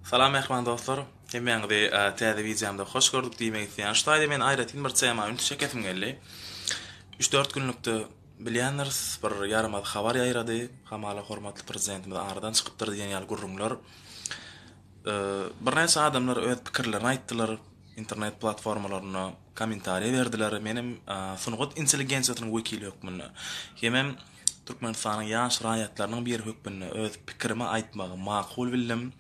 Salam mähriban dostlar! Hemmäňizi täze wideomda hoş gördük diýmek isleýän. Şu taýda men aýratyn bir tema ünsi çekesim geldi. Üç-dört günlükde bilýändiris, bir ýaramaz habar ýaýrady. Hamala hormatly Prezidentimiz aradan çykypdyr diýen ýaly gürrüňler. Birnäçe adamlar öz pikirlerini aýtdylar, internet platformalarynda kommentariýa berdiler. Menem sungat intelligensiýasynyň wekili hökmünde hemem Türkmenistanyň ýaş raýatlarynyň biri hökmünde öz pikirimi aýtmagy makul bildim.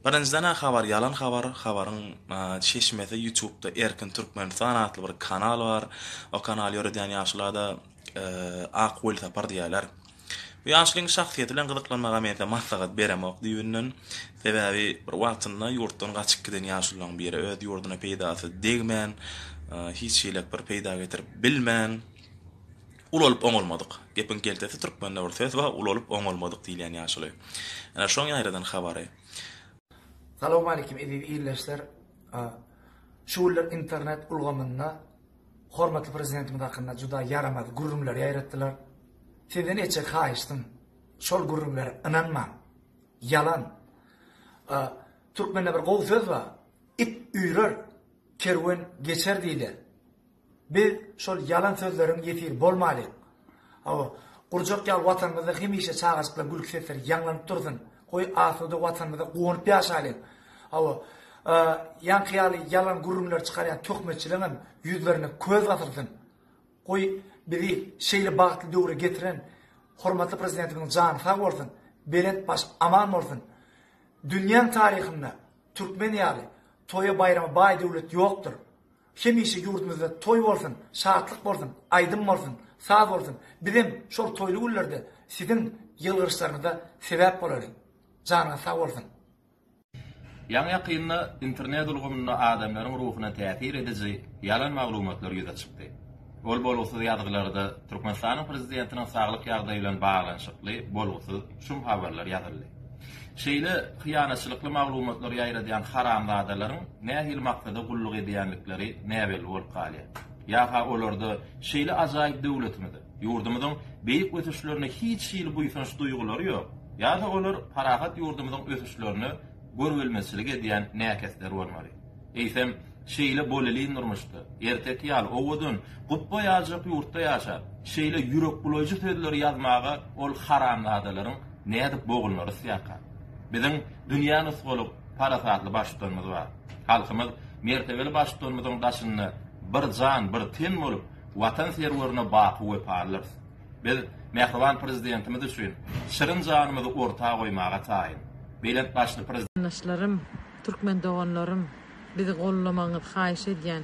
Birinjiden-ä habar ýalan habar, habaryň çeşmesi ýutubda Erkin Türkmenistan atly bir kanal bar. O kanaly ýöredýän ýaşulada Ak welsapar diýýärler. Bu ýaşulyň şahsyýeti bilen gyzyklanmaga mense maslahat beremok düýbünden. Sebäbi bir wagtynda ýurtdan gaçyp giden ýaşulularyň biri öz ýurduna peýdasy degmän, hiç hiläk bir peýda getirip bilmän, Ulalyp oňalmadyk. Gepiň keltesi türkmende bir söz bar, ulalyp oňalmadyk diýilýän ýaşuly. Ene şoň ýaýradan habary. Salowmalikim eziz ildeşler! Şu günler internet ulgamynda hormatly Prezidentimiz hakynda juda ýaramaz gürrüňler ýaýratdylar. Sizden etjek haýyşdym, şol gürrüňlere ynanmaň! Ýalan! Türkmende bir gowy söz bar, It üýrer, kerwen geçer diýilýär. Biz şol ýalan sözleriň ýesiri bolmalyň. Hawa, gurjak ýaly Watanymyzda hemişe çagajyklar gülki sesleri ýaňlanyp dursun. Goý, asuda Watanymyzda guwanyp ýaşalyň. Hawa, ýaňky ýaly ýalan gürrüňleri çykarýan töhmetçiligiň hem ýüzlerine köz basylsyn. Goý, bizi şeýle bagtly döwre getiren hormatly Prezidentimiziň jany sag bolsun, belent baş aman bolsun. Dünýäň taryhynda türkmen ýaly toýa-baýrama baý döwlet ýokdur. Hemişe ýurdumyzda toý bolsun, şatlyk bolsun, aýdym bolsun, saz bolsun, bizem şol toýly günlerde siziň ýylgyryşlaryňyza sebäp bolaly. Janyňyz sag bolsun. Ýaňy-ýakynda internet ulgamynda adamlaryň ruhuna täsir ediji ýalan maglumatlar ýüze çykdy. Ol bolgusyz ýazgylarda Türkmenistanyň prezidentiniň saglyk ýagdaýy bilen baglanyşykly bolgusyz şum habarlar ýazyldy. Şeýle hyýanatçylykly maglumatlary ýaýradýan haramzadalaryň nähili maksada gulluk edýändikleri näbelli bolup galýar. Ýa-ha olarda şeýle ajaýyp döwletimize, ýurdumyzyň beýik ösüşlerine hiç hili buýsanç duýgulary ýok, ýa-da olar parahat ýurdumyzyň ösüşlerine görübilmezçilik edýän näkesler bolmaly. Eýsem, Şeýle bolelin durmuşda, erteki ýaly owadan, gupba ýaljak ýurtda ýaşap, şeýle ýürekbulaýjy sözleri ýazmaga ol haramzadalaryň nädip bogulna rysýaka? Biziň dünýä nusgalyk parasatly Baştutanymyz bar. Halkymyz mertebeli Baştutanymyzyň daşynda bir jan, bir ten bolup, Watan serwerine baky wepalydyrys. Biz mähriban Prezidentimiz üçin şirin janymyzy orta goýmaga taýyn. Belent başly Prezidentimiz. Yndaşlarym, türkmen doganlarym! Bizi gollamagyňyzy haýyş edýän.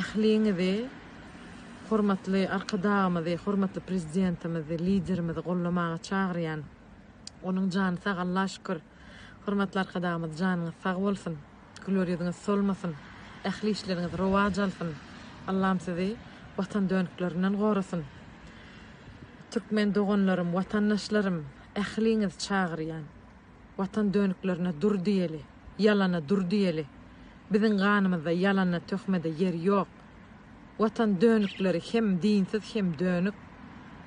Ähliňizi hormatly Arkadagymyzy, hormatly Prezidentimizi, Liderimizi gollamaga çagyrýan. Onuň jany sag Alla şükür. Hormatly Arkadagymyz janyňyz sag bolsun. Güler ýüzüňiz solmasyn. Ähli işleriňiz rowaç alsyn. Allam sizi Watan dönüklerinden gorasyn. Türkmen doganlarym, watandaşlarym ähliňizi çagyrýan. Watan döniklerine dur diýeli, ýalana dur diýeli. Biziň ganymyzda ýalana, töhmede ýer ýok. Watan dönikleri hem dinsiz hem dönük.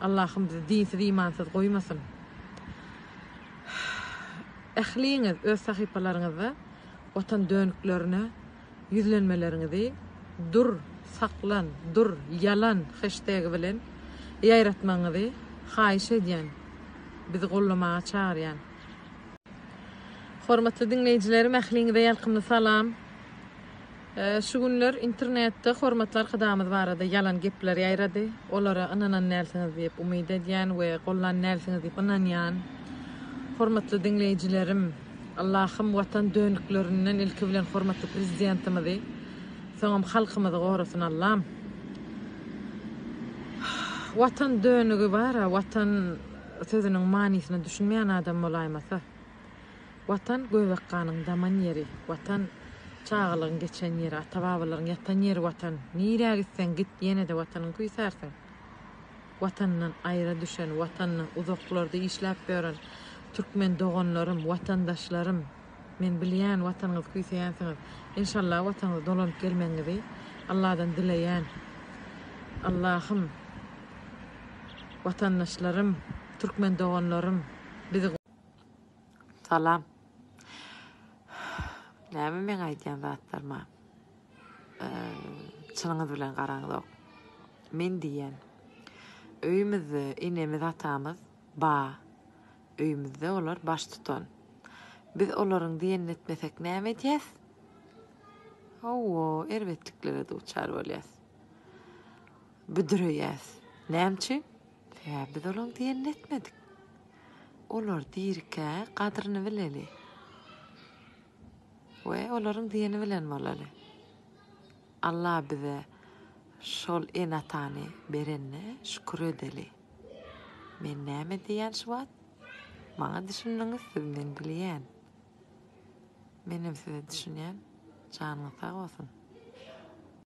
Allahym bizi dinsiz imansyz goýmasyn. Ähliňiz öz sahypalaryňyzda Watan döniklerine Ýüzlenmeleriňizi Dur, saklan, dur, ýalan heştegi bilen ýaýratmagyňyzy haýyş edýän. Bizi gollamaga çagyrýan. Hormatly diňleýjilerim ähliňize ýalkymly salam. Şu günler internetde hormatly arkadagymyz barada ýalan gepler ýaýrady. Olara ynanan dälsiňiz diýip umyt edýän we gollan dälsiňiz diýip ynanýan. Hormatly diňleýjilerim. Allahym watan dönüklerinden ilki bilen hormatly prezidentimizi soňam halkymyzy gorasyn Allam. Watan dönügi bara watan sözüniň manysyna düşünmeýän adam bolaýmasa. Watan göbek ganyň daman ýeri watan çagalygyň geçen ýeri ata babalaryň ýatan ýeri watan nirä gitseň git ýenede watanyň küýsärsiň. Watanyndan aýra düşen, Watanynyň uzaklarda işläp ýören türkmen doganlarym, watandaşlarym, men bilýän Watanyňyzy küýseýänsiňiz. Enşalla Watanyňyza dolanyp gelmegiňizi Alladan dileýän. Allahym Watandaşlarym, türkmen doganlarym bizi. Salam. Näme meň aýdýan zatlarym a. Çynyňyz bilen garaňzok. Men diýýän. Öýümizde enemiz atamyz ba. Öýümizde olar baştutan. Biz olaryň diýenini etmesek näme edýäs? Hawa, erbetliklere duçar bolýas. Büdüreýäs. Näme üçin? Sebäbi biz olaryň diýenini etmedik. Olar dirikä gadryny bileli. We olaryň diýeni bilen bolaly. Alla bize şol ene atany berenne şükür edeli. Men näme diýýän şu wagt? Maňa düşündiňiz siz men bilýän. Menem size düşünýän janyňyz sag bolsun.